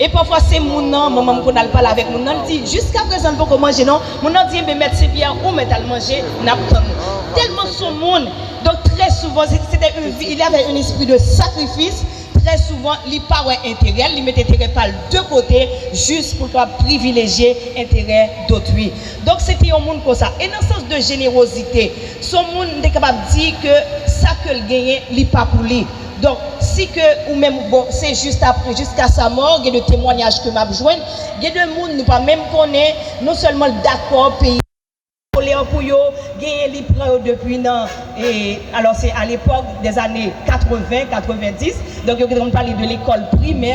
E pafwa se moun nan, manman m konn al pale avèk moun nan, l di, jiskaprezan l poko manje non, moun nan di, enben mèt Senpyè ou mèt al manje, n ap tann ou. Tèlman son moun, donk trè souvan se se te un il y avait un esprit de sacrifice, trè souvan li pa wè enterè l, li met enterè pa l de kote jis pou l kapab privilejye enterè dotwi. Donk se te yon moun konsa. E nan sans de jenewozite, son moun m te kapab di ke sa ke l genyen li pa pou li. Donk si ke ou menm ou bon se jis ap jiska sa mò gen de temwanyaj ke map jwenn gen de moun nou pa menm konnen non sèlman l dakò peyi koler pou yo genyen li pran yo depi nan e alò se alepòk dèzane 80 90 donk yo te konn pale de lekòl primè.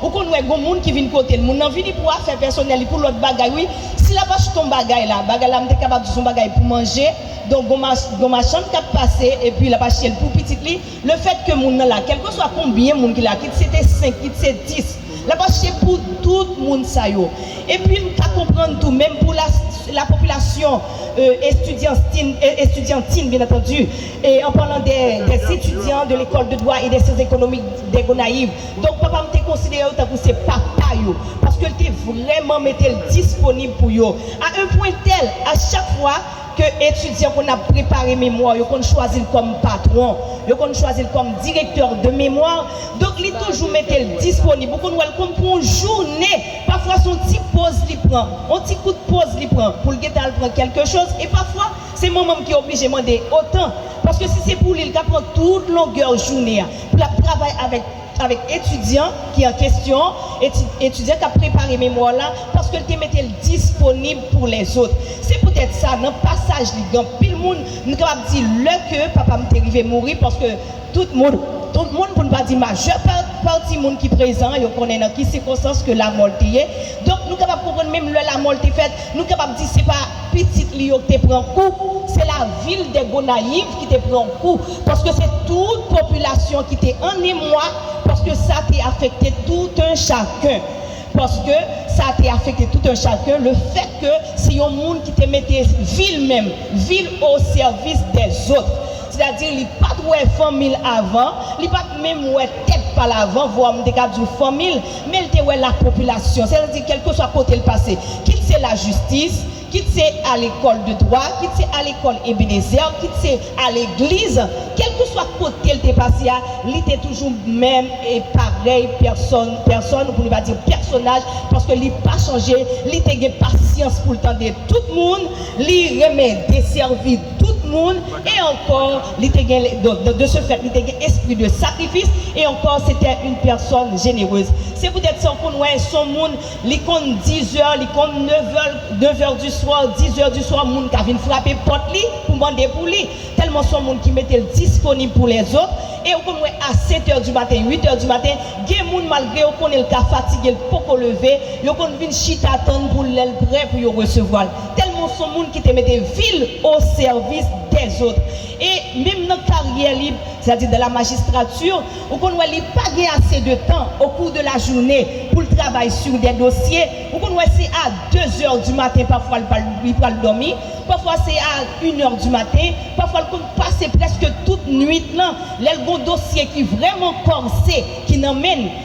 Ou konn wè gon moun ki vin kotel moun nan vini pou afè pèsonèl li pou lòt bagay wi si la pa sot on bagay la bagay la m te kapab di son bagay pou manje donk gon gon machann kap pase epi lap achte l pou pitit li lefèt ke moun nan la kèlkeswa konbyen moun ki la kit se te 5 kit se 10 lap achte pou tout moun sa yo epi m ka konprann tou menm pou la la popilasyon estidyanstin estidyantin byen antandi e an palan dè dè etidyan de lekòl de dwa e dè syans ekonomik dè gonayiv Donk, papa m te konsidere yo tankou se papa yo, paske l te vrèman mete l disponib pou yo, a un pwen tèl, a chak fwa ke etidyan konn ap prepare memwa, yo konn chwazi l kòm patwon, yo konn chwazi l kòm direktè de memwa, donk li toujou mete l disponib, ou konn wè l konn pran yon jounen, pafwa se yon ti poz li pran, yon ti kout poz li pran pou l gentan al pran kèlke choz, e pafwa se manman m ki oblije mande otan, paske si se pou li, li ka pran tout longè jounen an. Pou l ap travay avèk avèk etidyan ki an kesyon an, eti, etidyan k ap prepare memwa w la, paske l te mete l disponib pou lèzot. Se poutèt sa, nan pasaj li gen anpil moun, nou kapab di lè ke papa m te rive mouri, paske tout moun, tout moun, pou n pa di majè pa, pati moun ki prezan an, yo konnen nan ki sikonstans ke lamò l te ye. Donk, nou kapab konprann menm lè lamò l te fèt, nou kapab di se pa. pitit li yo ki te pran kou, se lavil dè Gonayiv ki te pran kou, paske se tout popilasyon ki te an emwa, paske sa te afekte tout un chacun, paske sa te afekte tout un chacun, le fèt ke se yon moun ki te mete vil menm, vil o sèvis dè zot, sètadi li pat wè fanmi l avan, li pat menm wè tèt pa l avan, vwa m te ka di w fanmi l, men l te wè lapopilasyon, sètadi kèlkeswa kote l pase, kit se lajistis, kit se alekòl de dwa, kit se alekòl Ebenezè, kit se alegliz, kèlkeswa kote l te pase a, li te toujou menm e parèy pèsòn, pèsòn pou nou pa di pèsonaj, paske li pa chanje, li te gen pasyans pou l tande tout moun, li renmen desèvi tout moun, e ankò. Li te gen, donk, de ce fait, li te gen espri de sakrifis, e ankò, sete yn pèsòn jenerez. Se poutèt sa w konn wè, s on moun, li konn dizè, li konn nevè, nevè di swa, dizè di swa, moun ka vin frape pòt li pou mande pou li, tèlman s on moun ki mete l disponib pou lèzot. E ou konn wè a setè di maten, uitè di maten, gen moun, malgre yo konnen l ka fatige, l poko leve, yo konn vin chita tann pou l lè l prè pou yo resevwa l. Tèlman son moun ki te mete vi l o sèvis dèzot. E menm nan karyè li, sètadi dans la magistrature, ou konn wè li pa gen ase de tan o kou de la joune pou l travay sur dè dosye. Ou konn wè se a de zè di maten pafwa l pral li pral dòmi, pafwa se a in è di maten, pafwa l konn pase prèske tout nuit lan lè l gon dosye ki vrèman kòrse ki nan men l.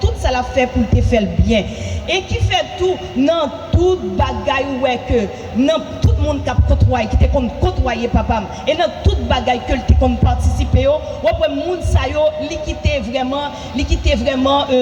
Tout sa lap fè poul te fèl byen e ki fè tou nan tout bagay ou wè ke nan tout moun kap kotwaye ki te konn kotwaye papam e nan tout bagay kel te konn patisipe yo wap wè moun sa yo li kite vrèman li kite vrèman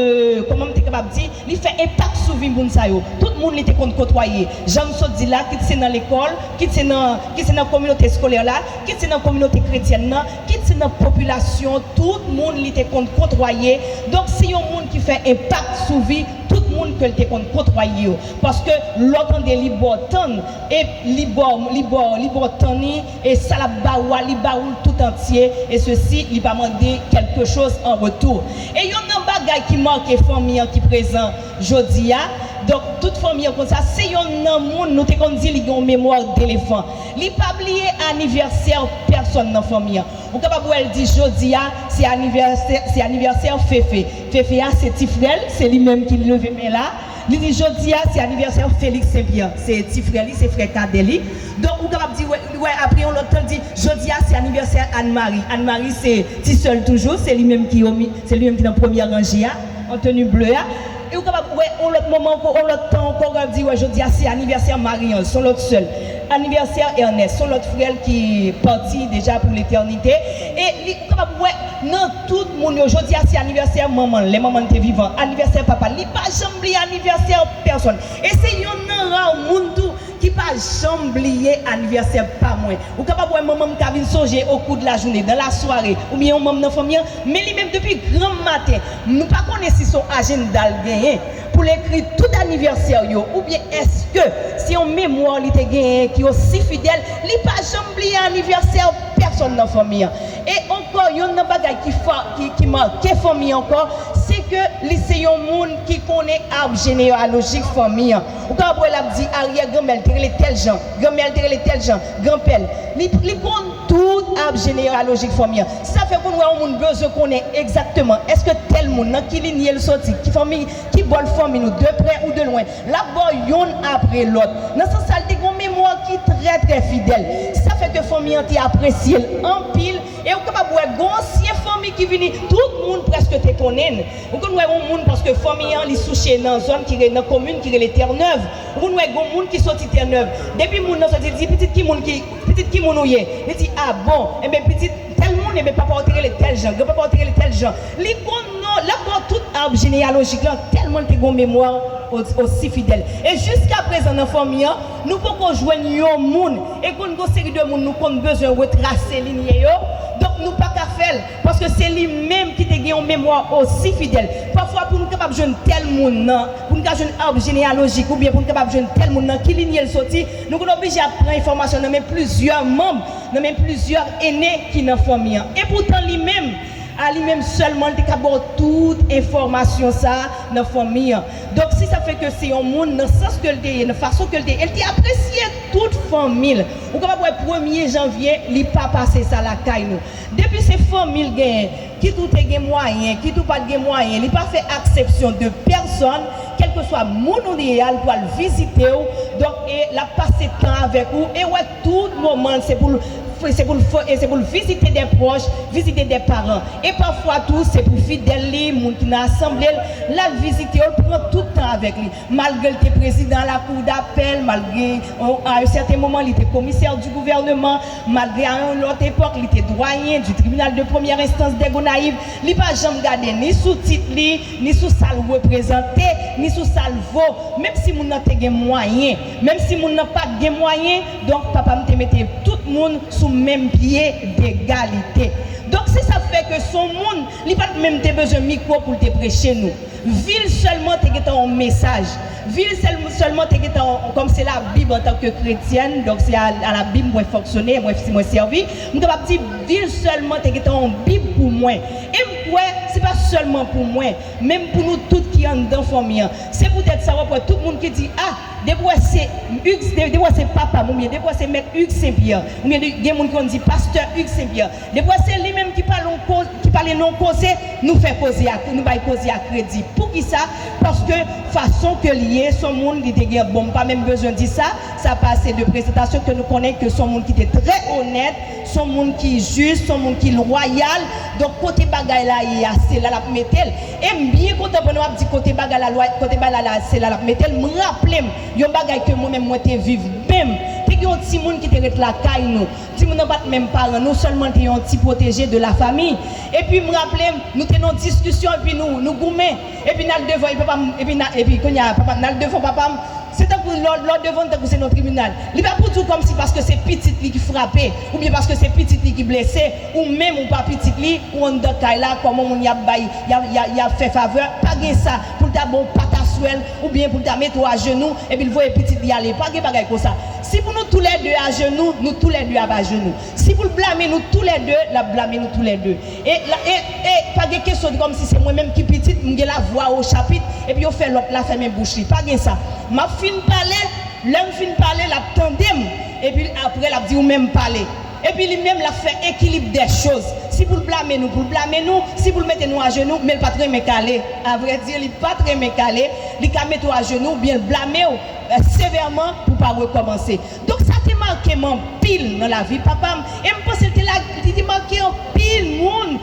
kòman m te kapab di li fè enpak sou vi moun sa yo tout moun li te konn kotwaye janm sot di la kit se nan lekòl kit se nan kit se nan kominote eskolè la kit se nan kominote kretyèn nan Kit se nan popilasyon tout moun li te konn kotwaye, donk se yon moun ki fè enpak sou vi tout moun ke l te konn kotwaye yo. Paske lè w tande li ba w tann, e li ba w, li ba w, li ba w tann li, e sa l ap ba ou a, li ba ou l tout antye, e se si li pa mande kèlke choz an retou. E yonn nan bagay ki make fanmi an ki prezan jodi a, donk tout fanmi an konn sa, se yonn nan moun nou te konn di li gen yon memwa delefan. Li pa bliye anivèsè pèsòn nan fanmi an. Ou kapab wè l di jodi a se anivèsè se anivèsè Fefe. Fefe a se ti frè l, se li menm ki leve men la. Li di jodi a se anivèsè Feliks Senpyè, se ti frè li, se frè kadè li. Donk ou kapab di wè wè apre yon lòt tan l di jodi a se anivèsè Ann Mari. Ann Mari se ti sè l toujou, se li menm ki o mi se li menm ki nan premyè ranje a an teni ble a. E ou kapab wè yon lòt moman ankò, yon lòt tan ankò, ou kapab di wè jodi a se anivèsè Marie-Ange, son lòt sè l, anivèsè Ernest, son lòt frè l ki pati deja pou letènite. E li, ou kapab wè nan tout moun yo, jodi a se anivèsè manman l, lè manman l te vivan, anivèsè papa l, li pa janm bliye anivèsè pèsonn. E se yonn nan ra moun tou. ki pa janm bliye anivèsè pa mwen. Ou kapab wè manman m ka vin sonje okou de lajounen, dan lasware, oubyen yon manm nan fanmi an, men li menm depi granm maten, nou pa konnen si son ajennda l genyen pou l ekri tout anivèsè l yo, oubyen èske se yon memwa li te genyen ki osi fidèl, li pa janm bliye anivèsè pèsòn nan fanmi an. E ankò, yonn nan bagay ki fa, ki, ki make fanmi ankò, se ke li se yon moun ki konnen arb jeneyalojik fanmi an. Ou ka ap wè l ap di aryè granmè l te rele tèl jan, granmè l te rele tèl jan, granpè l. Li li konn tout ab jeneralojik fanmi an. Se sa fè konn wè yon moun bezwen konnen egzakteman èske tèl moun nan ki linye l soti, ki fanmi, ki bò l fanmi nou de prè ou de lwen. L ap ba w youn apre lòt. Nan sans sa l te gen yon memwa ki trè trè fidèl. Se sa fè ke fanmi an te apresye l anpil e ou kapab wè gen yon ansyen fanmi ki vini tout moun prèske te konnen l. Ou konn wè yon moun paske fanmi an li souche nan zòn ki re nan komin ki rele tènèv ou konn wè gon moun ki soti tènèv depi moun nan soti li di pitit ki moun ki pitit ki moun ou ye li di a bon enben pitit tèl moun enben papa w te rele tèl jan gran papa w te rele tèl jan li konn non lap ba w tout arbre généalogique lan tèlman l te gon memwa o osi fidèl e jiska prezan nan fanmi an nou poko jwenn yon moun e konn gon seri de moun nou konn bezwen retrase linye yo donk nou paka fè l. Paske se li menm ki te gen yon memwa osi fidèl. Pafwa pou n kapab jwenn tèl moun nan, pou n ka jwenn arb jeneyalojik oubyen pou n kapab jwenn tèl moun nan ki linye l soti, nou konn oblije ap pran enfòmasyon nan men plizyè manm, nan men plizyè ene ki nan fanmi an. Epoutan li menm, a li menm sèlman li te ka ba w tout enfòmasyon sa a nan fanmi an. Donk si sa fè ke se yon moun nan sans ke l te ye, nan fason ke l te ye, l te apresye tout fanmi l. Ou kapab wè premye janvye li pa pase sa lakay nou. Depi se fanmi l genyen, kit ou te gen mwayen, kit ou pa t gen mwayen, li pa fè aksepsyon de pèsòn, kèlkeswa moun ou ye a, li pral vizite w, donk e l ap pase tan avèk ou, e wè tout moman l se pou l se pou l e se pou l vizite dè pwòch, vizite dè paran. E pafwa tou se pou fidèl li, moun ki nan asanble l, l al vizite yo, l pran tout tan avèk li. Malgre l te prezidan lakou dapèl, malgre a yon sèten moman li te komisè di gouvèneman, malgre a yon lòt epòk li te dwayen di tribinal de premyè enstans dè Gonayiv, li pa janm gade ni sou tit li, ni sou sa l reprezante, ni sou sa l vo, menm si moun nan te gen mwayen, menm si moun nan pa t gen mwayen, donk papa m te mete tout moun sou menm pye degalite. Donk se sa k fè ke s on moun, li pa t menm te bezwen mikwo pou l te preche nou. Vil sèlman te gentan yon mesaj, vil sèlman te gentan yon, kòm se labib antan ke kretyèn, donk se a labib mwen fonksyone, mwen si mwen sèvi, m kapab di vil sèlman te gentan yon bib pou mwen, e m kwè se pa sèlman pou mwen, menm pou nou tout ki anndan fanmi an, se poutèt sa wap wè tout moun ki di ah depi wè se Hugues depi wè se papam oubyen depi wè se mèt Hugues St Pierre oubyen gen moun ki konn di pastè Hugues St Pierre Debwa se li menm ki pale yon koze, ki pale nan yon koze, nou fè koze a, nou bay koze a kredi. Poukisa? Paske fason ke li ye, son moun li te gen, bon m pa menm bezwen di sa, sa pa ase de presantasyon ke nou konnen ke son moun ki te trè onèt, son moun ki jis, son moun ki lwayal. Donk kote bagay la ye a, se la l ap mete l. E m byen kontan pandan w ap di kote bagay la lwa, kote bagay la la se la l ap mete l, m raple m yon bagay ke mwen menm mwen te viv menm. Te gen yon timoun ki te ret lakay nou. Timoun nan pa t menm paran nou, sèlman l te yon ti pwoteje de lafami. Epi m raple m, nou te nan yon diskisyon epi nou nou goumen. Epi n al devan, epi papa m, epi n al, epi kounye a papa m, n al devan papa m. Se tankou lè w lè w devan l tankou se nan tribinal. Li pa pou di w kòmsi paske se pitit li ki frape oubyen paske se pitit li ki blese, ou menm ou pa pitit li, ou anndan kay la, kòman moun y ap bay, y ap y ap y ap fè favè. Pa gen sa pou l ta ba w pataswèl oubyen pou l ta mete w ajenou epi l voye pitit li ale. Pa gen bagay konsa. Si pou nou tou lè 2 ajenou, nou tou lè 2 ap ajenou. Si pou l blame nou tou lè 2, l ap blame nou tou lè 2. E, e, e, pa gen kesyon di kòmsi se mwen menm ki pitit, m gen la vwa o chapit, epi yo fè lòt la fèmen bouch li. Pa gen sa. M ap fin pale, lè m fin pale, l ap tande m, epi l apre l ap di ou menm pale. Epi li menm l ap fè ekilib dè choz. Si pou l blame nou, pou l blame nou, si pou l mete nou ajenou, men l pa t renmen kale. Avrèdi, li pa t renmen kale. Li ka mete w ajenou oubyen l blame w. Sevèman pou pa rekòmanse. Donk sa te make m anpil nan lavi papa m e m panse li te make anpil moun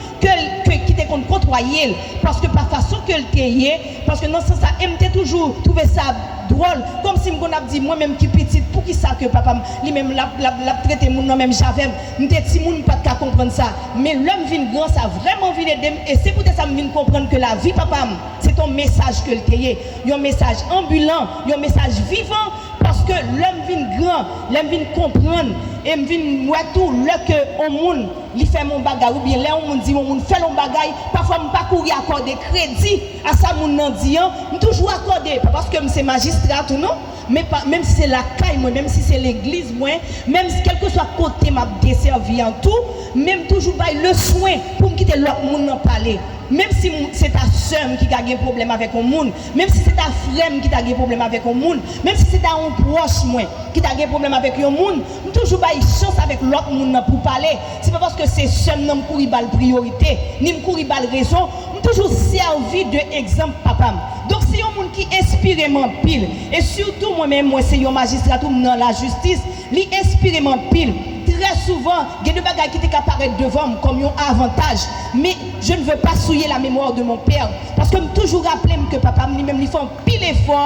ki te konn kotwaye l paske pa fason ke l te ye, paske nan sans sa e m te toujou twouve sa dwòl kòmsi m konn ap di mwen menm ki pitit poukisa ke papa m li menm l ap trete moun nan menm jan avè m. M te timoun m pa t ka konprann sa men lè m vin gran sa vrèman vin ede m e se poutèt sa m vin konprann ke lavi papa m. Se t on mesaj ke l te ye. Yon mesaj anbilan, yon mesaj vivan, paske lè m vin gran, lè m vin konprann e m vin wè tou lè ke on moun li fè m on bagay oubyen lè on moun di m on moun fè l on bagay, pafwa m pa kouri akòde kredi a sa moun nan di an, m toujou akòde, pa paske m se majistra tou non, Men pa, menm si se lakay mwen, menm si se legliz mwen, menm si kèlkeswa kote m ap desèvi an tou, men m toujou bay leswen pou m kite lòt moun nan pale. Menm si m se ta sè m ki ka gen pwoblèm avèk yon moun, menm si se ta frè m ki ta gen pwoblèm avèk yon moun, menm si se ta yon pwòch mwen ki ta gen pwoblèm avèk yon moun, m toujou bay chans avèk lòt moun nan pou pale. Se pa paske se sè m nan m kouri ba l priyorite, ni m kouri ba l rezon. M toujou sèvi de egzanp papa m. Donk se yon moun ki enspire m anpil. E sitou mwen menm mwen se yon majistra tou m nan lajistis, li enspire m anpil. Trè souvan, gen de bagay ki te ka parèt devan m kòm yon avantaj, men je ne veux pas souiller la mémoire de mon père paske m toujou raple m ke papa m li menm li fè anpil efò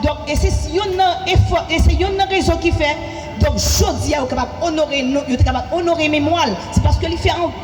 donk e se yonn nan efò e se yonn nan rezon ki fè donk jodi a yo kapab onore non yo te kapab onore memwa l se paske li fè anpil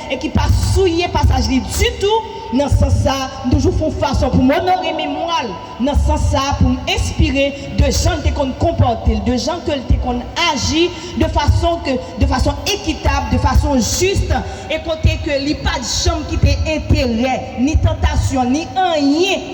e ki pa souye pasaj li ditou, nan sans sa m toujou fon fason pou m onore memwa l, nan sans sa pou m enspire de jan l te konn konpòte l, de jan ke l te konn aji de fason ke de fason ekitab, de fason jis e kote ke li pat janm kite enterè, ni tantasyon, ni anyen.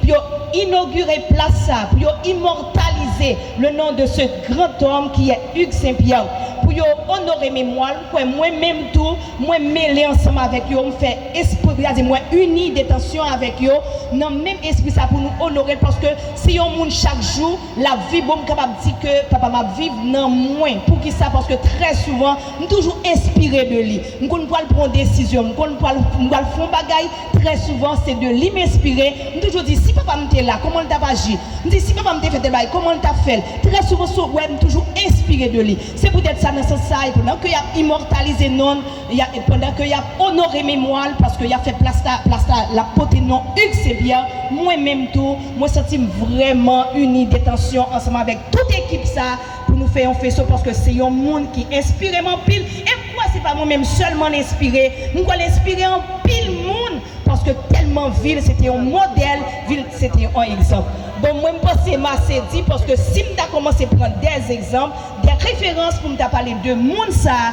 pou yo inogire plas sa a, pou yo imòtalize le non de ce grand homme ki è Hugues Saint Pierre, pou yo onore memwa l, m kwè mwen menm tou mwen mele ansanm avèk yo, m fè espri, sa di mwen ini detansyon avèk yo nan menm espri sa a pou nou onore l paske se yon moun chak jou Lap viv bon m kapab di ke papa m ap viv nan mwen poukisa paske trè souvan m toujou enspire de li m konn pwal pran yon desizyon m konn pwal m pwal fè yon bagay trè souvan se de li m enspire m toujou di si papa m te la kòman l tap aji m di si papa m te fè tèl bagay kòman l tap fè l trè souvan sou wè m toujou enspire de li se poutèt sa nan sans sa e pandan ke yap imòtalize non l Pandan ke yap onore memwa l paske yap fè plas la, plas la lap pote non Hugues Saint Pierre, mwen menm tou mwen santi m vrèman ini detansyon ansanm avèk tout ekip sa pou nou fè yon feso paske se yon moun ki enspire m anpil e m kwè se pa mwen menm sèlman l enspire, m kwè l enspire anpil moun paske tèlman vi l se te yon modèl, vi l se te yon egzanp. Bon mwen m panse m ase di paske si m ta kòmanse pran dè egzanp, dè referans pou m ta pale de moun sa,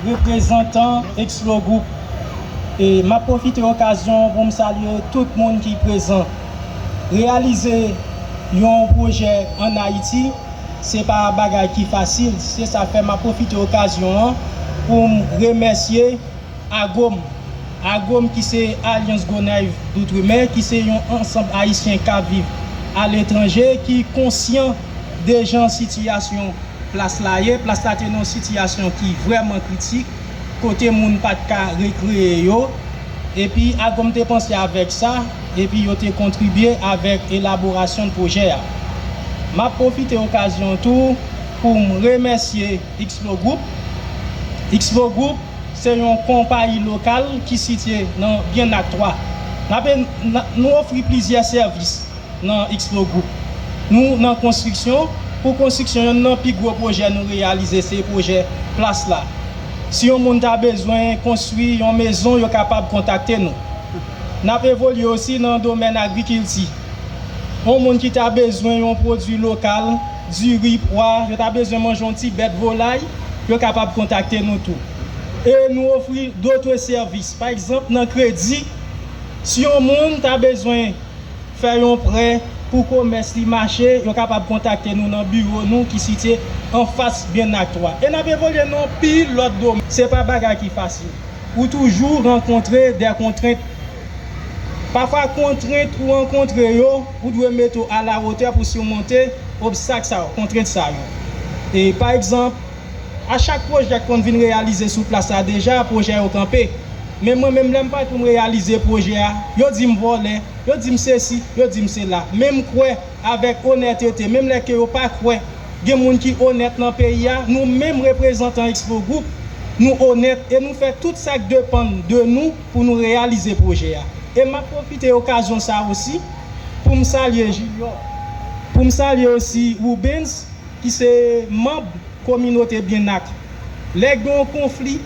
Reprezantan Xplo Group M ap pwofite okazyon an pou m salye tout moun ki prezan. Reyalize yon pwojè ann Ayiti se pa bagay ki fasil, se sa k fè m ap pwofite okazyon an pou m remèsye Agom, Agom ki se Alyans Gonaiv Doutremer ki se yon ansanb Ayisyen k ap viv aletranje ki konsyan de jan sitiyasyon plas la ye. Plas la te nan yon sitiyasyon ki vrèman kritik kote moun pa t ka rekreye yo epi Agom te panse avèk sa epi yo te kontribye avèk elaborasyon pwojè a. M ap pwofite okazyon an tou pou m remèsye Xplo Group. Xplo Group. se yon konpayi lokal ki sitye nan byen ak 3. Nou ofri plizyè sèvis nan Xplo Group. Nou nan konstriksyon pou konstriksyon yonn nan pi gwo pwojè nou reyalize se pwojè plas la. Si yon moun ta bezwen konstwi yon mezon yo kapab kontakte nou. N ap evolye osi nan domèn agrikilti. Yon moun ki ta bezwen yon pwodwi lokal. diri, pwa, yo ta bezwen manje yon ti bèt volay, yo kapab kontakte nou tou. E nou ofri dotre sèvis, pa egzanp nan kredi, si yon moun ta bezwen fè yon prè pou komès li mache, yo kapab kontakte nou nan biwo nou ki sitye anfas Byennak 3. E n ap evolye nan anpil lòt domèn. Se pa bagay ki fasil. Ou toujou rankontre de kontrent. Pafwa kontrent ou rankontre yo. Ou dwe mete w alawotè pou simonte obstak sa yo, kontrent sa yo. E, pa egzanp, a chak pwojè k konn vin reyalize sou plas la deja, pwojè yo kanpe. Men mwen menm lè m pare pou m reyalize pwojè a, yo di m vòlè, yo di m sesi, yo di m sela. Men m kwè avèk onètete, menm lè ke yo pa kwè gen moun ki onèt nan peyi a, nou menm reprezantan Expo Group, nou onèt e nou fè tout sa k depann de nou pou nou reyalize pwojè a. E m ap pwofite okazyon sa osi pou m salye Junior, pou m salye osi Rubens ki se manb kominote Byennak. Lè gen yon konfli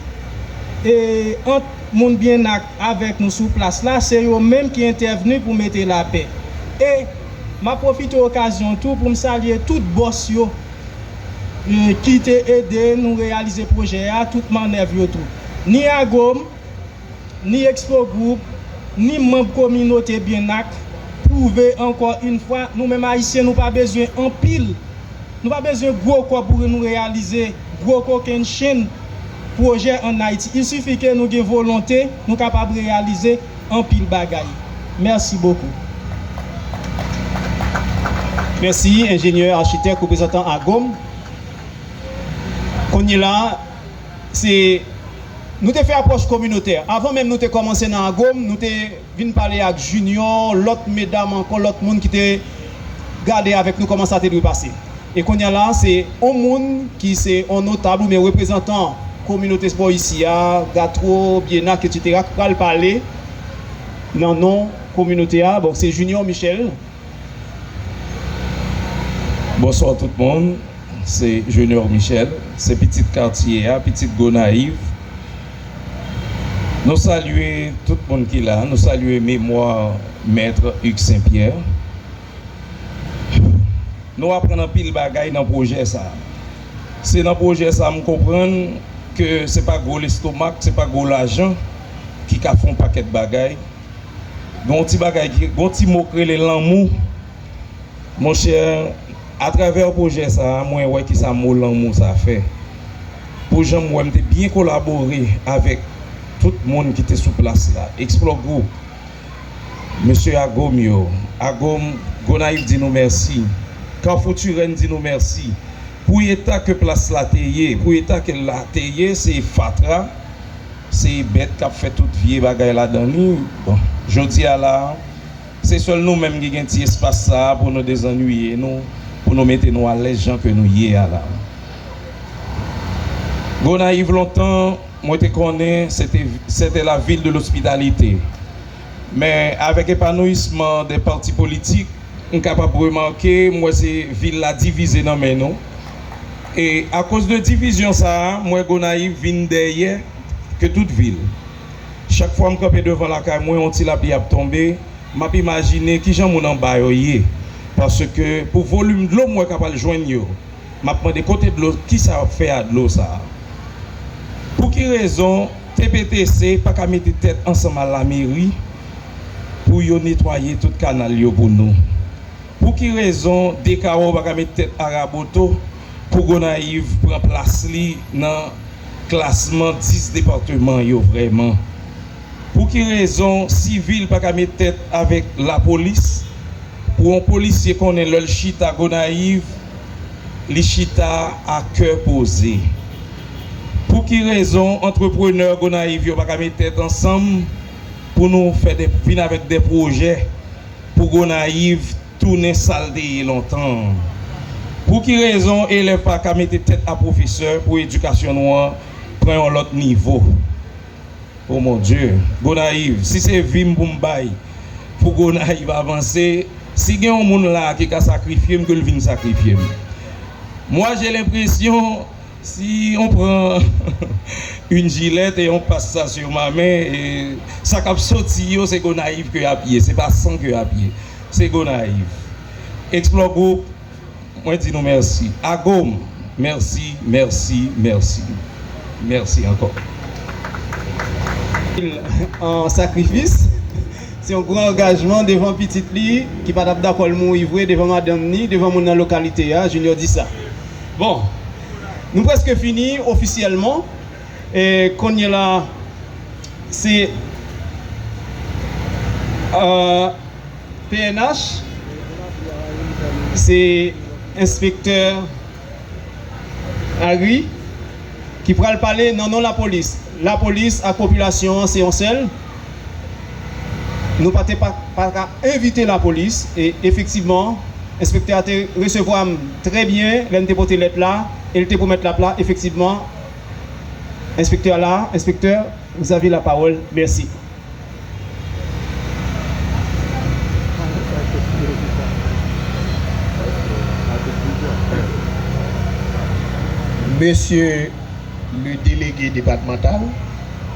ant moun Byennak avèk nou sou plas la, se yo menm ki entèvni pou mete lapè. E m ap pwofite okazyon tou pou m salye tout bòs yo ki te ede nou reyalize pwojè a, tout mannèv yo tou. Ni Agom. Ni Expo Group, ni manb kominote Byennak pwouve ankò yn fwa nou menm Ayisyen nou pa bezwen anpil, nou pa bezwen gwo kòb pou nou reyalize gwo kokenn chenn pwojè an Ayiti. Il suffit ke nou gen volonte, nou kapab reyalize anpil bagay. Mèsi bokou. Mèsi enjenyè, achitèk, reprezantan AGOM. Kounyela a. Se Nou te fè apwòch kominotè. Avan menm nou te kòmanse nan AGOM, nou te vin pale ak Junior, lòt medam ankò, lòt moun ki te gade avèk nou kòman sa te dwe pase. E kounye a la, se on moun ki se on notab oubyen reprezantan kominote spò isi a, Gatwo, Byenak, etsetera, ki pral pale nan non kominote a. Bon, se Junior Michel Bonsoir tout moun se Junior Michel se pitit katye a pitit Gonayiv nou salye tout moun ki la nou salye memwa maitre Hugues Saint Pierre nou aprann anpil bagay nan pwojè sa se nan pwojè sa m konprann ke se pa gwo lestomak se pa gwo lajan ki ka fon pakèt bagay Gon ti bagay ki, gon ti mo k rele lanmou. Monchè, atravè pwojè sa a, mwen wè kisa mo lanmou sa a fè. Pou jan m wè, m te byen kolabore avèk tout moun ki te sou plas la. Explore Group, mesye Agom yo, Agom Gonayiv di nou mèsi. Kafou Turenne di nou mèsi. Pou eta ke plas la te ye, pou eta ke l la te ye, se fatra. Se bèt kap fè tout vye bagay ladan li. Bon, jodi a la, se sèl nou menm ki gen ti espas sa a pou nou dezannwiye nou, pou nou mete nou alèz jan ke nou ye a la. Gonayiv lontan, mwen te konnen, se te, se te la ville de l'hospitalité. Men avèk epanouyisman de pati politik, m kapab remake, m wè se vil la divize nan men nou. E akoz de divizyon sa a, m wè Gonayiv vin dèyè ke tout vil. Chak fwa m kanpe devan lakay mwen, yon ti lapli ap tonbe, m ap imajine kijan moun anba yo ye. Paske pou volim dlo m wè k ap al jwenn yo, m ap mande kote dlo, kisa yo ap fè a dlo sa a? Pou ki rezon? TPTC paka mete tèt ansanm a lameri pou yo netwaye tout kanal yo pou nou? Pou ki rezon Dekawo paka met tèt a Raboto pou Gonayiv pran plas li nan klasman 10 departeman yo vrèman? Pou ki rezon sivil paka met tèt avèk lapolis pou on polisye konnen lè l chita Gonayiv li chita a kè poze? Pouki rezon antreprenè Gonayiv yo pa ka met tèt ansanm pou nou fè de vin avèk de pwojè pou Gonayiv tounen sa l te ye lontan an? Pouki rezon elèv pa ka mete tèt a pwofesè pou edikasyon nou an pran yon lòt nivo? O mon Dye! Gonayiv! Si se vi m pou m bay pou Gonayiv avanse, si gen yon moun la a ki ka sakrifye m ke l vin sakrifye m. Mwa je lenpresyon. Si on pran yn jilèt e on pas sa sur ma men sa kap soti yo se Gonayiv ke yap ye se pa san ke yap ye se Gonayiv Explore Group mwen di nou mèsi Agom mèsi mèsi mèsi mèsi ankò. Yon sakrifis, se yon gran angajman devan pitit li ki pa tap dakò l mouri vre devan madanm ni devan moun nan lokalite a, Junior di sa. Bon, nou preske fini ofisyèlman. E konyela se pnh, se enspektè Agri ki pral pale nan non lapolis. Lapolis ak popilasyon an se yon sèl. Nou pa te pa ka evite lapolis e efektivman enspektè a te resevwa m trè byen lè m te pote lèt la e l te pwomèt l ap la efektivman enspektè a la enspektè vous avez la parole merci. Mesye le delege depatmantal.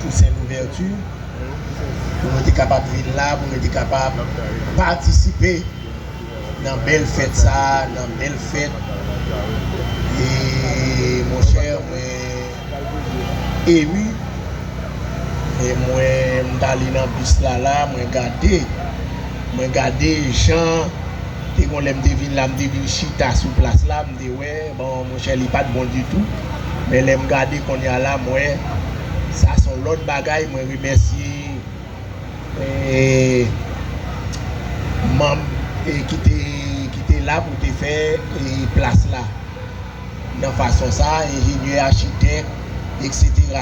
Toussaint Louverture pou nou te kapab vin la pou nou te kapab patisipe nan bèl fèt sa nan bèl fèt e monchè mwen emu e mwen m ta li nan bis la la mwen gade mwen gade jan te gon lèm te vin la m te vin chita sou plas la m te wè bon monchè li pat bon ditou men lèm gade konnya la m wè sa son lòt bagay mwen remèsye manb ki te la pou te fè plas la nan fason sa enjenyè achitèk etc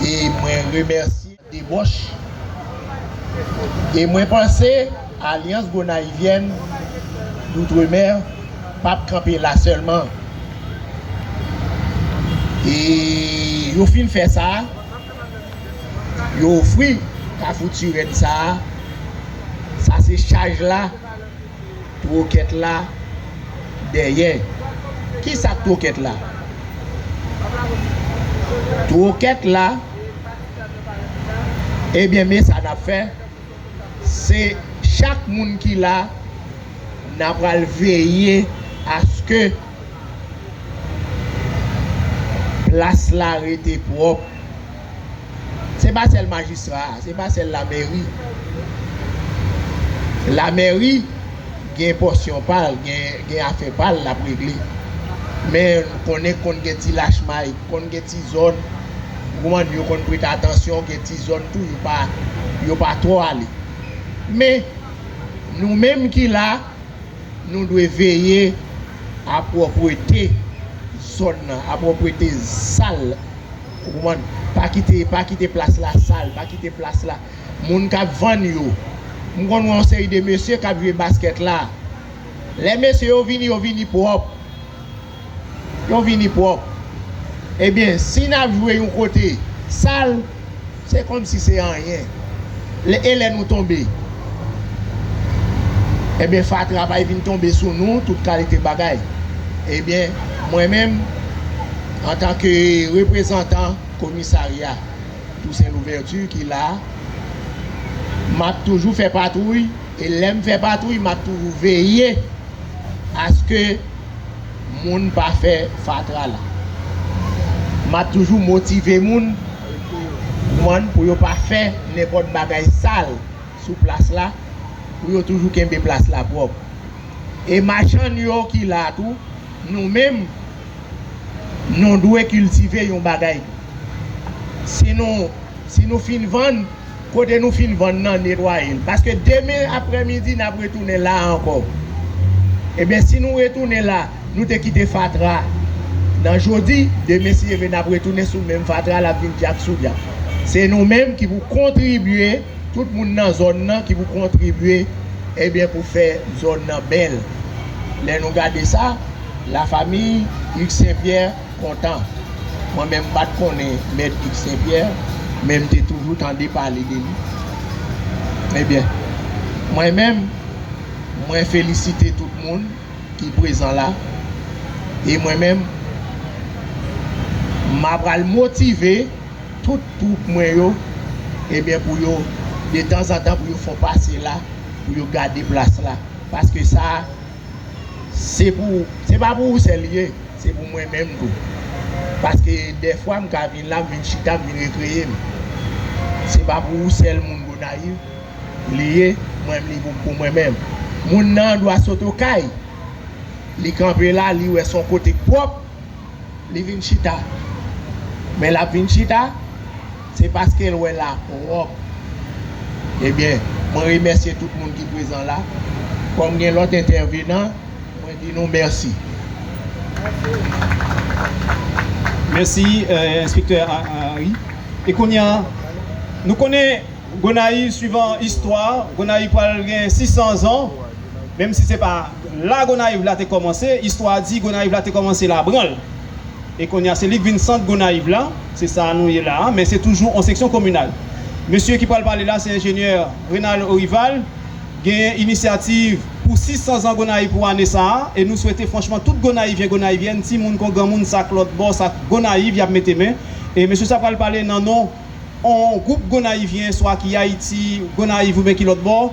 e mwen remèsye. Debòch. E mwen panse Alyans Gonayivyèn Doutremè pap kanpe la sèlman. E yo fin fè sa, yo ofri Kafou Tirèn sa a. Sa se chaj la. Troket la dèyè. Kisa troket la? Troket la Ebyen me sa nap fè se chak moun ki la na pral veye aske plas la rete pwop. Se pa sèl majistra a, se pa sèl lamèri. Lamèri gen pòsyon pa l, gen afè pa l l ap regle. Men nou konnen konn gen ti lachmay, konn gen ti zòn, ou konprann, yo konn prete atansyon, gen ti zòn tou yo pa twò ale. Men, nou menm ki la, nou dwe veye a pwòprete zòn nan, a pwòprete sal. Ou konprann? Pa kite, pa kite plas la sal, pa kite plas la. Moun k ap vann yo. M konn wè yon seri de mesye k ap jwe baskèt la. Lè mesye yo vini, yo vini pwòp. Yo vini pwòp. Ebyen, si n ap jwe yon kote sal, Se kòmsi se anyen. Lè e lè nou tonbe. Ebyen fatra pay vin tonbe sou nou tout kalite bagay. Ebyen mwen menm antan ke reprezantan komisarya Toussaint Louverture ki la a, map toujou fè patwouy e lèm fè patwouy map toujou veye aske Moun pa fè fatra la. Map toujou motive moun kman pou yo pa fè nenpot bagay sal sou plas la pou yo toujou kenbe plas la pwop e machann yo ki la tou nou menm nou dwe kiltive yon bagay si nou si nou fin vann. kote nou fin vann nan netwaye l paske demen aprè midi n ap retounen la ankò ebyen si nou retounen la nou te kite fatra nan jodi demen si Dye vle n ap retounen sou menm fatra l ap vin dyak sou dyak se nou menm ki pou kontribye tout moun nan zòn nan ki pou kontribye ebyen pou fè zòn nan bèl lè nou gade sa la famiy Hugues St Pierre. kontan. Mwen menm m pa t konnen Mèt Guy Sen Pyè, men m te toujou tande pale de li. Ebyen, mwen menm, mwen felisite tout moun ki prezan la, e mwen menm, m apral motive tout twoup mwen yo, ebyen pou yo, detanzantan pou yo fon pase la, pou yo gade plas la, paske sa. Se pou ou, se pa pou ou sèl li ye, se pou mwen menm tou. Paske dèfwa m ka vin la, m vin chita, m vin rekreye m. Se pa pou ou sèl moun Gonayiv li ye, mwen menm li pou mwen menm. Moun nan an dwa sot okay, li kanpe la, li wè son kote k pwòp, li vin chita. Men l ap vin chita. Se paske l wè la pwòp. Ebyen, mwen remèsye tout moun ki prezan la. Kòm gen lòt entèvenan, mwen di nou mèsi. Mèsi, Enspektè Henri. E kounye a, nou konnen Gonayiv, swivan istwa, Gonayiv pral gen 600 zan, menm si se pa la Gonayiv la te kòmanse. Istwa di Gonayiv la te kòmanse Labranl. E konya se li k vin sant Gonayiv la, se sa nou ye la a, men se toujou on seksyon kominal. Mesye ki pral pale la se enjenyè Renald Orival, genyen inisyativ pou 600 zan Gonayiv pou ane sa a, e nou swete franchman tout Gonayivyen, Gonayivyèn, timoun kon granmoun sa k lòtbò, sa k Gonayiv y ap mete men, e mesye sa pral pale nan non. on gwoup Gonayivyen swa ki Ayiti, Gonayiv oubyen ki lòt bò,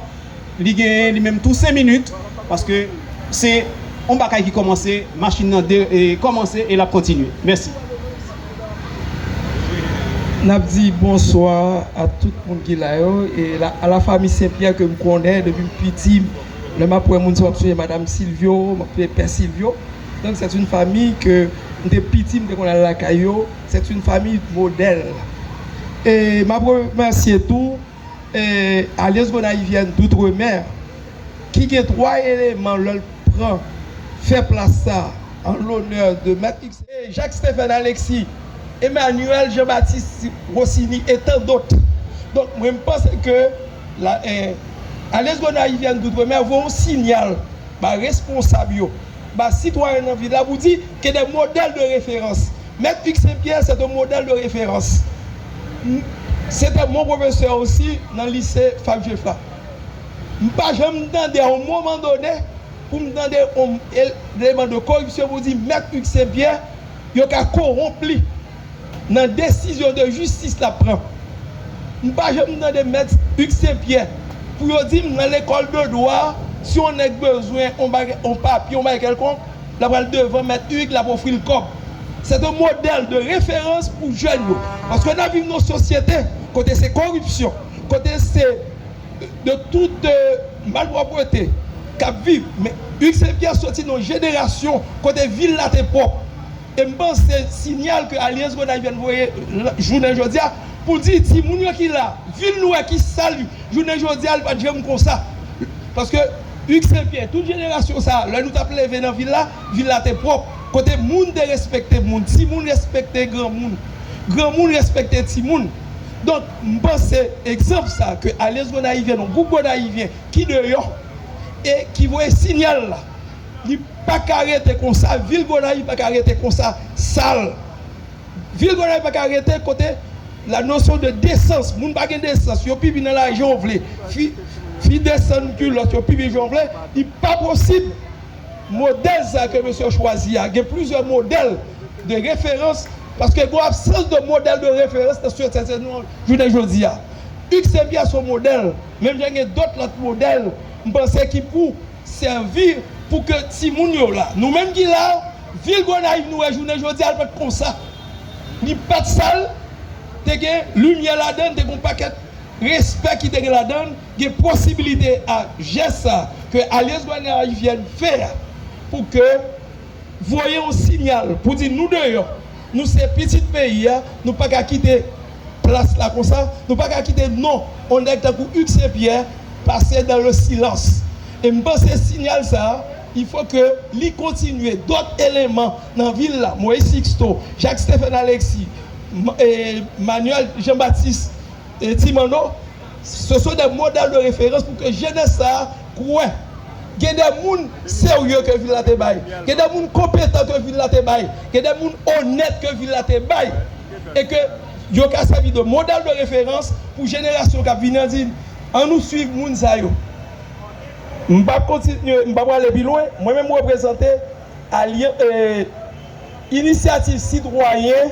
li genyen li menm tou 5 minit paske se on bagay ki kòmanse, machin nan kòmanse e l ap kontinye. Mèsi. N ap di bonswa a tout moun ki la yo e a la fami Sen Pyè ke m konnen depi m piti. Lè m ap wè moun sa m ap sonje Madam Silvyo, m ap sonje Pè Silvyo. Donk sèt in fami ke m te piti m te konn al lakay yo. C'est une famille modèle e map remèsye tou Alyans Gonayivyèn d'Outre-Mer ki gen 3 eleman lè l pran fè plas sa an lonè de Mèt Ipsen. Jacques Stephen Alexis, Emmanuel Jean Baptiste Rossini et tant d'autres donk mwen m panse ke Alyans Gonayivyèn d'Outre-Mer voye yon sinyal ba responsab yo. Baz sitwayen nan vil la pou di ke de modèl de referans. Mèt Hugues Saint Pierre c'est un modèle de référence. M se te mon professeur aussi nan lise Fab Geffrard. M pa janm tande a yon moman done pou m tande yon eleman de koripsyon pou di mèt Hugues Saint Pierre yo ka kowonp li. nan desizyon de jistis lap pran. M pa janm tande mèt Hugues St Pierre pou yo di m nan lekòl de dwa si yon nèg bezwen yon bagay yon papye yon bagay kèlkonk lap pral devan mèt Hugues lap ofri l kòb. Sèt yon modèl de referans pou jèn yo paske nap viv nan yon sosyete kote se koripsyon kote se de tout malpwòpwete kap viv men Hugues St Pierre soti nan yon jenerasyon kote vil la te pwòp. E m panse se sinyal ke Alyans Gonayivyèn voye jounen jodi a pou di timoun yo ki la, vil nou a ki sal jounen jodi a li pa t janm konsa. Paske Hugues Saint Pierre, tout jenerasyon sa a lè nou t ap leve nan vil la, vil la te pwòp, kote moun te respekte moun, timoun respekte granmoun, granmoun respekte timoun. Donk m panse egzanp sa a ke Alyans Gonayivyèn, yon gwoup Gonayivyen ki deyò e ki voye sinyal la, li. paka rete konsa vil gonayiv paka rete konsa sal vil gonayiv paka rete kote la nosyon de desans moun pa gen desans yo pipi nan lari jan yo vle fi fi desann kilòt yo pipi jan yo vle li pa posib modèl sa ke mesye yo chwazi a gen plizyè modèl de referans paske gwo absans de modèl de referans nan sosyete nou an jounen jodi a usbn son modèl menm jan gen dòt lòt modèl m panse ki pou. Sèvi pou ke timoun yo la. Nou menm ki la, vil Gonayiv nou wè jounen jodi a l pat konsa. Li pat sal, te gen limyè ladan l, te gen yon pakèt respè ki te gen ladan l, gen posibilite a jès sa ke Alyans Gonayivyèn fè a pou ke voye yon sinyal pou di nou deyò, nou se pitit peyi a, nou pa ka kite plas la konsa, nou pa ka kite non yon nèg tankou Hugues Saint Pierre pase dans le silence. E m panse sinyal sa a, il faut que li kontinye, dòt eleman nan vil la, Moise Sixto, Jacques Stephen Alexis, Manuel Jean Baptiste, E ti Manno, ce sont des modèles de référence pou ke jenès sa a kwè gen de moun serye ke vil la te bay, gen de moun konpetan ke vil la te bay, gen de moun onèt ke vil la te bay e ke yo ka sèvi de modèle de référence pou jenerasyon kap vini an di an nou swiv moun sa yo. M pap kontinye, m pa prale pi lwen, mwen menm m reprezante alyan, ee, Inisyativ Sitwayen.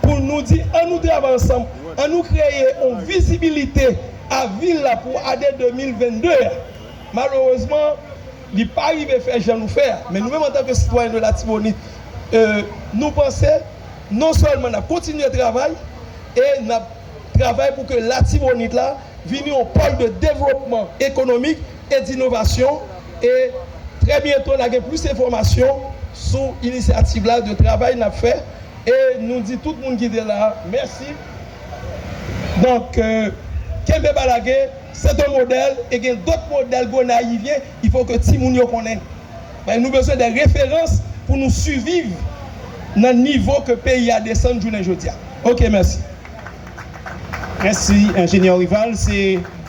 pou nou di an nou travay ansanm, an nou kreye yon vizibilite a vil la pou ane 2022 a. Malerezman, li pa rive fè jan nou fè a. Men nou menm antan ke sitwayen de Latibonit, nou panse non sèlman n ap kontinye travay e n ap travay pou ke Latibonit la vini yon pòl de devlopman ekonomik, e d'innovation e trè byento na gen plis enfòmasyon sou inisyativ la de travay nap fè e nou di tout moun ki te la mèsi donk kenbe pa lage c'est un modèle e gen dòt modèle gonayivyen il faut ke timoun yo konnen paske nou bezwen dè referans pou nou siviv nan nivo ke peyi a desann jounen jodi a ok mèsi. Mèsi enjenyè Rival se.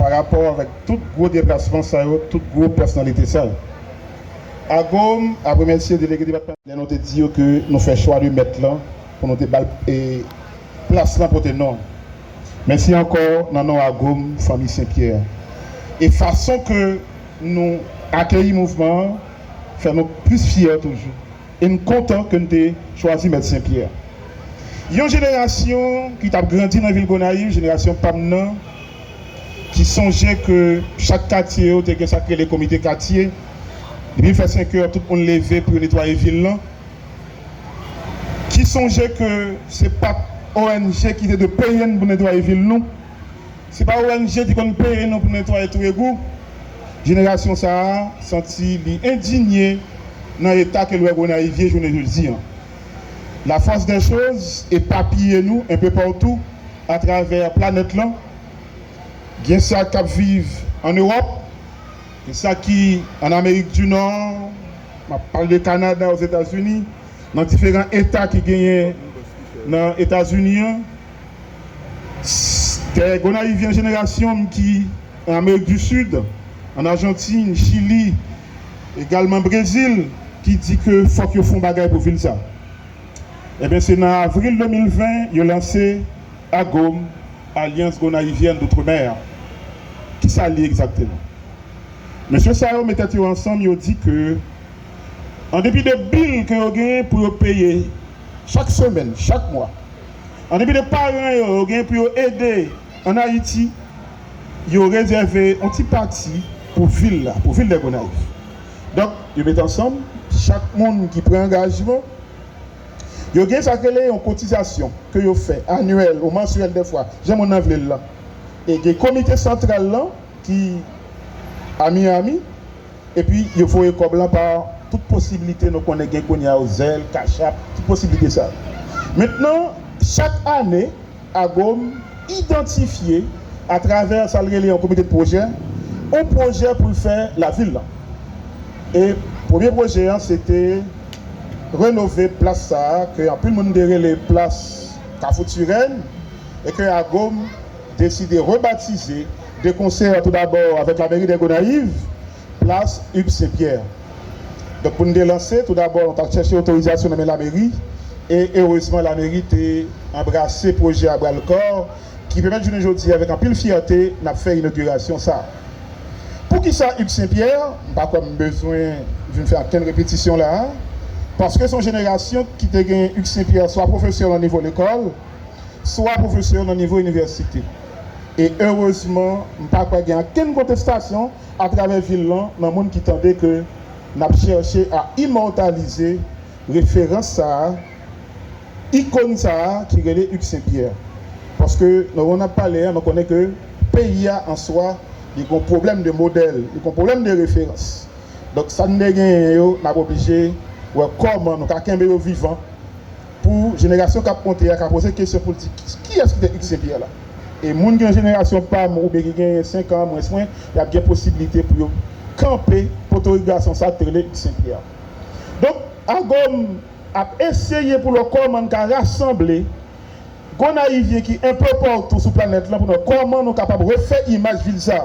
pa rapò avèk tout gwo deplasman sa yo, tout gwo pèsonalite sa yo. AGOM ap remèsye Delege Depatmantal. Lè nou te di yo ke nou fè chwa de mèt lan pou nou te ba l e plas lan pote non l. Mèsi ankò nan non AGOM Fanmi Sen Pyè a. E fason ke nou akeyi mouvman an fè nou plis fyè toujou. E m kontan ke n te chwazi Mèt Sen Pyè. Yon jenerasyon ki t ap grandi nan vil Gonayiv, jenerasyon pa m nan, ki sonje ke chak katye yo te gen sa k rele komite katye. Depi l fè senkè, tout moun leve pou yo netwaye vil lan. Ki sonje ke se pa t ONG ki te dwe peye n pou netwaye vil nou. Se pa ONG ki konn peye nou pou n netwaye twou egou. Jenerasyon sa a santi li endinye nan eta ke l wè Gonayiv ye jounen jodi an. Lafòs dè choz epapiye nou enpe patou atravè planèt lan. Gen sa k ap viv ann Ewòp, gen sa ki ann Amerik di Nò, m ap pale de Kanada, Ozetazini, nan diferan eta ki genyen nan Etazini an. Tè Gonayivyen Jenerasyon m ki an Amerik di Sid, an Ajantin, Chili, egalman Brezil ki di ke fòk yo fon bagay pou vil sa. Enben se nan avril 2020 yo lanse AGOM, Alliance Gonaïvienne d'Outre-Mer. Kisa l ye egzakteman? Mesye sa yo met tèt yo ansanm yo di ke an depi de bil ke yo genyen pou yo peye chak semèn, chak mwa, An depi de paran yo yo gen pou yo ede an Ayiti, yo rezève yon ti pati pou vil la, pou vil de Gonayiv. Donk, yo mete ansanm, chak moun ki pran angajman, yo gen sa k rele yon kotizasyon ke yo fè anyèl ou mansyèl dèfwa, jan moun nan vle l lan. E gen komite santral lan ki a Miyami. Epi yo voye kòb lan pa tout posiblite nou konnen gen kounye a yo, Zelle, Cash App, tout posiblite sa yo. Mentnan, chak ane, AGOM idantifye atravè sa l rele yon komite de pwojè, yon pwojè pou l fè lavil lan. E premye pwojè an se te renove plas sa a ke anpil moun te rele plas Kafou Turenne e ke AGOM deside rebatize, 2 konsèr tou dabò avèk la mèri dè Gonayiv, plas Hugues Saint Pierre. Donk pou n te lanse tou dabò nou ta chèche otorizasyon nan men la mèri e erezman la mèri te anbrase pwojè a bra l kò ki pèmèt jounen jodi avèk anpil fyète n ap fè inogirasyon sa. Poukisa Hugues Saint Pierre? M pa kwè m bezwen vin fè ankenn repetisyon la a paske se yon jenerasyon ki te gen Hugues Saint Pierre swa pwofesè nan nivo lekòl, swa pwofesè yo nan nivo inivèsite. E erezman m pa kwè gen ankenn kontestasyon atravè vil lan nan moun ki tande ke n ap chèche a imòtalize referans sa a, ikon sa a ki rele Hugues Saint Pierre. Paske nan moman n ap pale a nou konnen ke peyi a an swa li gen yon pwoblèm de modèl, li gen yon pwoblèm de referans. Donk sa n te genyen yo n ap oblije wè kòman nou ka kenbe yo vivan. pou jenerasyon kap monte a ka poze kesyon poul di kiyès ki te Ikse Pyè la? E moun ki nan jenerasyon pam oubyen ki genyen 5 an mwens mwen yap gen posiblite pou yo kanpe potorik gason sa ki te rele Ikse Pyè a. Donk Agom ap eseye pou l wè kòman n ka rasanble Gonayivyen ki enpè patou sou planèt lan pou n wè kòman nou kapab refè imaj vil sa.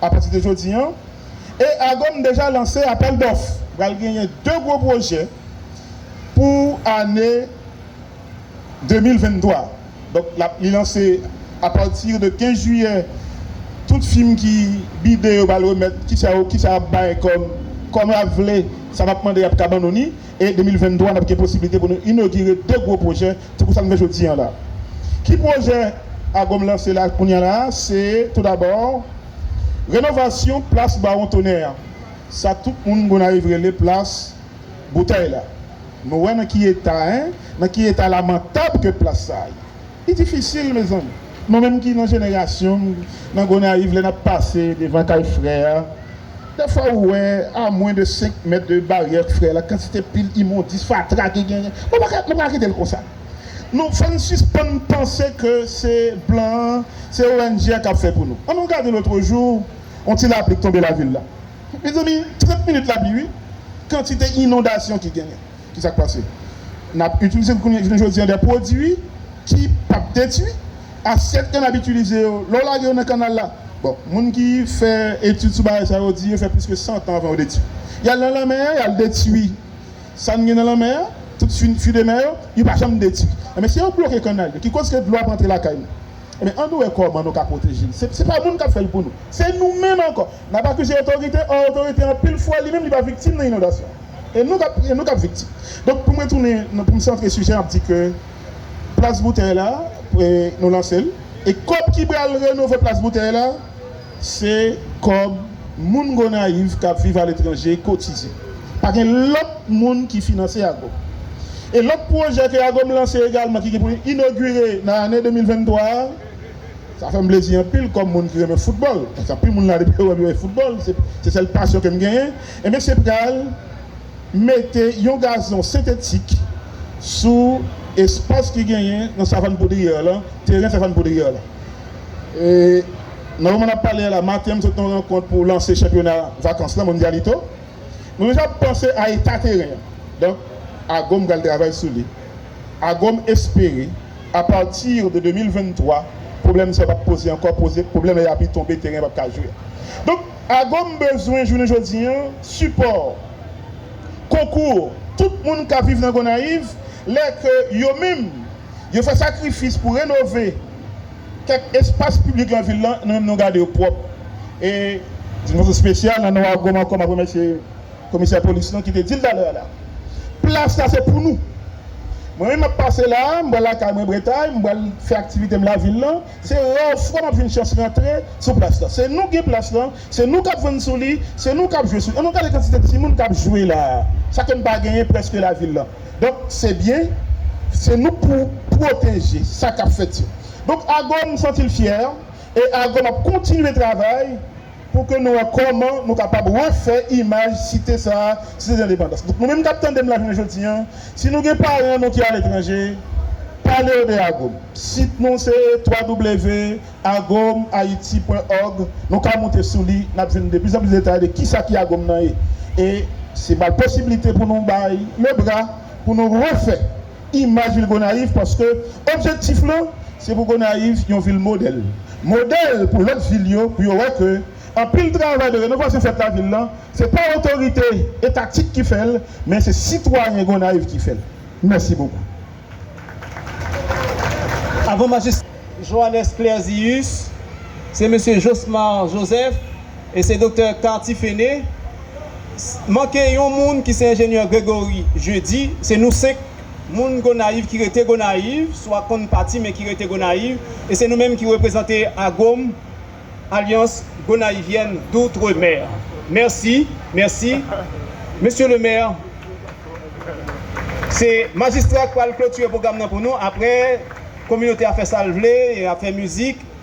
apati de jodi an, e AGOM deja lanse apèl dòf. Pral genyen 2 gwo pwojè pou ane 2023. Donk l ap li lanse apati de 15 jiyè tout fim ki bide yo pral remèt ki sa yo ki sa y ap bay kòm kòm y ap vle sa y ap mande y ap ka ban nou ni. e 2023 nap gen posiblite pou nou inogire 2 gwo pwojè tankou sa nou fè jodi an la. Ki pwojè AGOM lanse la kounya la a se tou dabò renovasyon plas Bawon Tonè a, sa tout moun Gonayiv rele plas boutèy la. Nou wè nan ki eta 1, nan ki eta lamantab ke plas sa a ye. Li difisil mezanmi mwen menm ki nan jenerasyon m nan Gonayiv lè nap pase devan kay frè a dèfwa ou wè a mwen de 5 mèt de baryè frè la kantite pil imondis fatra ki genyen mwen pa mwen paka kite l konsa nou fòn sispann panse ke se blan an se ong a kap fè pou nou an nou gade lotrejou on ti lapli k tonbe lavil la mezanmi 30 minit lapli wi kantite inondasyon ki genyen Ki sa k pase? N ap itilize jounen jodi an de pwodui ki p ap detui asyèt ke n ap itilize yo. Lè w lage yo nan kannal la, bon, moun ki fè etid sou bagay sa yo di yo fè plis ke santan avan yo detui. Y al nan lanmè an, y al detui sa n gen nan lanmè an, tout fwi de mè yo, yo pa janm detui. Enben, si yo bloke kannal yo, ki koz ke dlo ap antre lakay nou. Enben, annou wè kòman nou ka pwoteje l. Se pa moun k ap fè l pou nou. Se nou menm ankò. N ap akize otorite, ò otorite anpil fwa li menm li pa viktim nan inondasyon. E nou kap e nou kap viktim. Donk pou mwen tounen nan pou m santre sijè an ap di ke plas boutèy la e nou lanse l e kòb ki pral renove plas boutèy la se kòb moun Gonayiv kap viv aletranje kotize. Pa gen lòt moun ki finanse ago. E lòt pwojè ke agom lanse egalman ki gen pou li inogire nan ane 2023 a sa fè m plezi anpil kòm moun ki renmen foutbòl paske anpil moun la depi yo wè m yo wè foutbòl se sèl pasyon ke m genyen. Enben se pral mete yon gazon sentetik sou espas ki genyen nan savann poudriyè w lan, teren savann poudriyè w lan. E nan moman n ap pale a la, maten m sot nan yon rankont pou lanse chanpyona vakans lan, Mondialito, nou deja panse a eta teren an. Donk, AGOM pral travay sou li. AGOM espere, apati de 2023, pwoblèm sa yo p ap poze ankò, pwoblèm lè y api tonbe, teren an p ap ka jwe. Donk. Agom bezwen jounen jodi an sipò, konkou tout moun kap viv nan Gonayiv lè ke yo menm yo fè sakrifis pou renove kèk espas piblik nan vil lan nou menm nou gade yo pwòp e di yon fason spesyal nan non Agom ankò map remèsye komisè polis lan ki te dil talè a la plas la se pou nou mwen menm map pase la m pral lakay mwen Bretay m pral fè aktivitem lavil lan. Se rare fwa map jwenn chans rantre sou plas lan. Se nou ki gen plas lan, se nou kap vann sou li, se nou kap jwe sou li. Annou gade kantite timoun kap jwe la a. Sa ke m pa genyen preske lavil lan. Donk se byen, se nou pou pwoteje sa kap fèt yo. Donk Agom santi l fyè e Agom ap kontinye travay. pou ke nou wè kòman nou kapab refè imaj site sa a, Site Dendepandans. Donk nou menm k ap tande m la jounen jodi an, si nou gen paran nou ki aletranje, pale yo de Agom. Sit nou se www.agomhaiti.org, nou ka moute sou li, n ap jwenn de plis an plis detay de ki sa ki Agom nan ye. E se ba posiblite pou nou bay lebra, pou nou refè. imaj vil Gonayiv paske objektif lan se pou Gonayiv yon vil modèl, modèl pou lòt vil yo pou yo wè ke anpil travay de renovasyon fèt lavil lan se pa otorite etatik ki fèl men se sitwayen Gonayiv ki fèl. Mèsi bokou. Avan majistra Johannes Clerzius, se mesye Josmar Joseph. E se Doktè Carty Phéné, manke yon moun ki se Enjenyè Grégory Jeudy, se nou 5 moun Gonayiv ki rete Gonayiv, swa konn pati men ki rete Gonayiv, e se nou menm ki reprezante AGOM, Alliance Gonaïvienne d'Outre-Mer. Mèsi, mèsi. Mesye le Mè, se Majistra k pral klotire pwogram nan pou nou, aprè kominote a fè sa l vle, y ap fè mizik.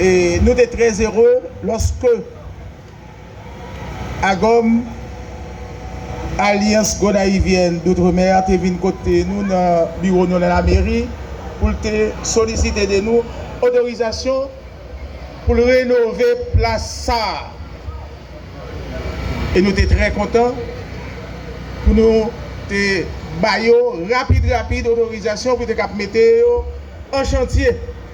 e nou te trè ere lòske AGOM, Alyans Gonayivyèn Doutremè, te vin kote nou nan biwo nou nan lameri pou l te solisite de nou otorizasyon pou l renove plas sa a e nou te trè kontan pou nou te ba yo rapid rapid otorizasyon pou te kab mete yo an chantye.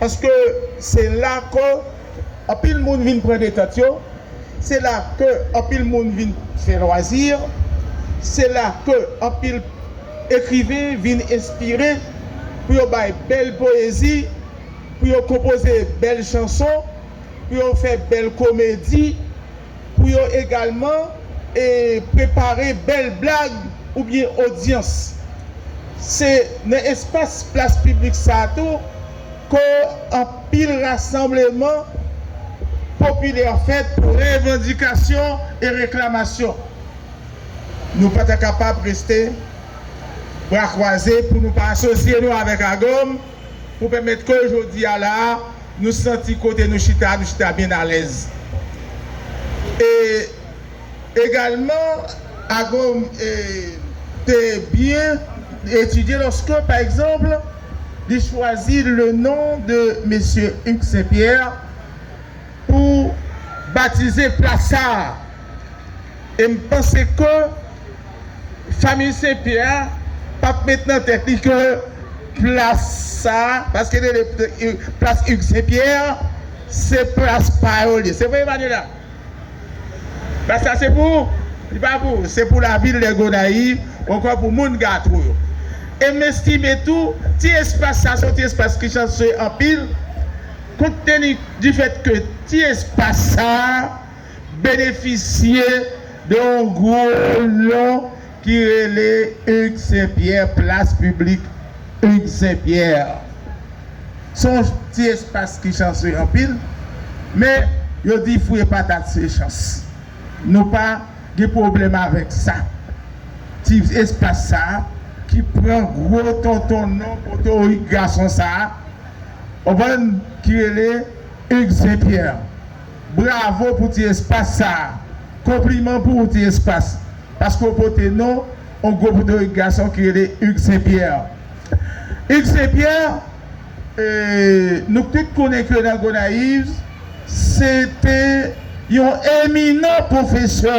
paske se la ke anpil moun vin pran detant yo, se la ke anpil moun vin fè lwazi, se la ke anpil ekriven vin enspire pou yo bay bèl poyezi, pou yo konpoze bèl chanson, pou yo fè bèl komedi. pou yo egalman e prepare bèl blag oubyen odyans. Se nan espas plas piblik sa a tou ke anpil rasanbleman popilè fèt pou revandikasyon e reklamasyon. Nou pa ta kapab reste bra kwaze pou nou pa asosye nou avèk AGOM. pou pèmèt ke jodi a la a, nou santi kote nou chita a, nou chita byen alèz. E egalman, AGOM te byen etidye lòske, pa egzanp, li chwazi le non de Mesye Hugues St. Pierre pou batize plas sa a. E m panse ke. Famiy Sen Pyè a pa t met nan tèt li ke plas sa a, paske yo rele plas Hugues Saint Pierre, se plas pa yo li ye. Se vre Emmanuella? Plas la se pou ou? Li pa pou ou, se pou lavil de Gonayiv onkò pou moun Gato yo. E m estime tou, ti espas sa a se yon ti espas ki chanse anpil, konte teni di fèt ke ti espas sa a, benefisye de yon gwo non ki rele Hugues St Pierre Plas piblik Hugues St Pierre. Se yon ti espas ki chanse anpil, men yo di fouye patat se chans. Nou pa gen pwoblèm avèk sa. Ti espas sa a ki pran gwo tonton non potorik gason sa a, w konprann, ki rele Hugues St Pierre. Bravo pou ti espas sa a. Konpliman pou ou ti espas, paske ou pote non on gwo potorik gason ki rele Hugues Saint Pierre. Hugues Saint Pierre, eeh nou tout konnen ke nan Gonaives, se te yon eminan pwofesè.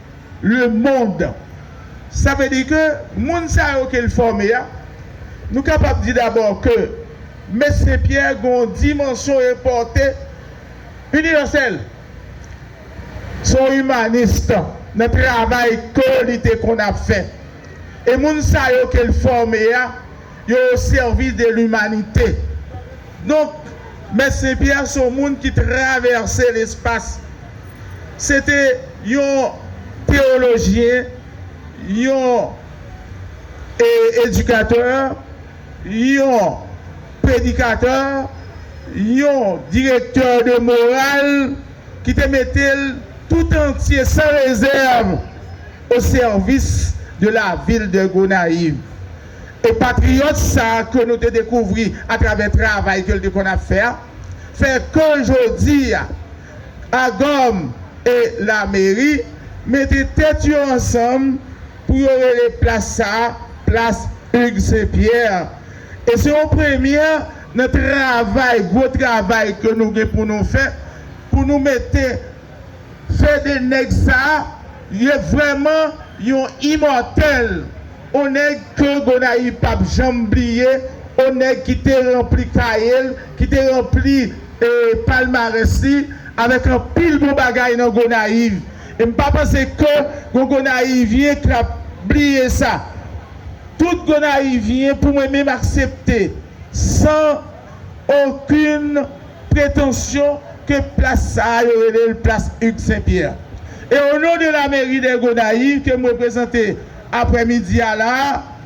Le monde. Sa vle di ke moun sa yo ke l fòme a, nou kapab di dabò ke Me Senpyè gen yon dimansyon e pòte inivèsèl. Se yon imanist nan travay ke li te konn ap fè. E moun sa yo ke l fòme a, Yo o sèvis de limanite. Donk, Mèt Sen Pyè se yon moun ki travèse lespas. Se te yon teyolojyen, yon edikatè, yon predikatè, yon direktè de moral ki te mete l toutantye, san rezèv, o sèvis de lavil de Gonayiv. E patriyòt sa a ke nou te dekouvri atravè travay ke l te konn ap fè a, fè ke jodi a, AGOM e Lameri mete tèt yo ansanm pou yo rele plas sa a Plas Hugues Saint Pierre. E se yon premyè nan travay, gwo travay ke nou gen pou nou fè, pou nou mete Fede Nèg sa a, li vrèman yon imòtèl. On nèg ke Gonayiv p ap janm bliye, on nèg ki te ranpli kaye l, ki te ranpli palmarès li avèk anpil bon bagay nan Gonayiv. E m pa panse ke gon Gonayivyen k ap bliye sa. Tout Gonayivyen pou mwen menm aksepte san okin pretansyon ke plas sa a yo rele l plas Hugues St-Pierre. E o non de la mairie de Gonayiv ke m reprezante, aprè midi a la,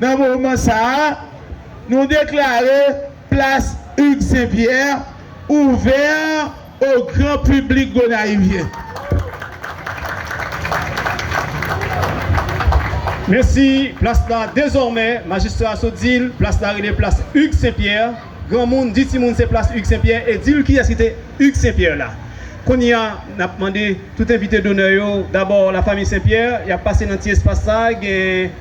nan moman sa a, nou deklare plas Hugues Saint Pierre ouvè o gran piblik Gonayivyen. Mèsi, plas la dezòmè, majistra Soudil, plas la rele plas Hugues Saint Pierre. Granmoun di timoun se plas Hugues St Pierre e di l kiyès ki te Hugues St Pierre la. Kounye a, n ap mande tout envite donè yo, dabò la famiy St Pierre, y ap pase nan ti espas sa a gen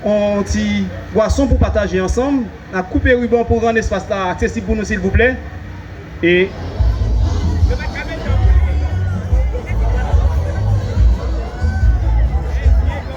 yon ti bwason pou pataje ansanm. N ap koupe riban pou rann espas la aksesib pou nou silvouplè. E.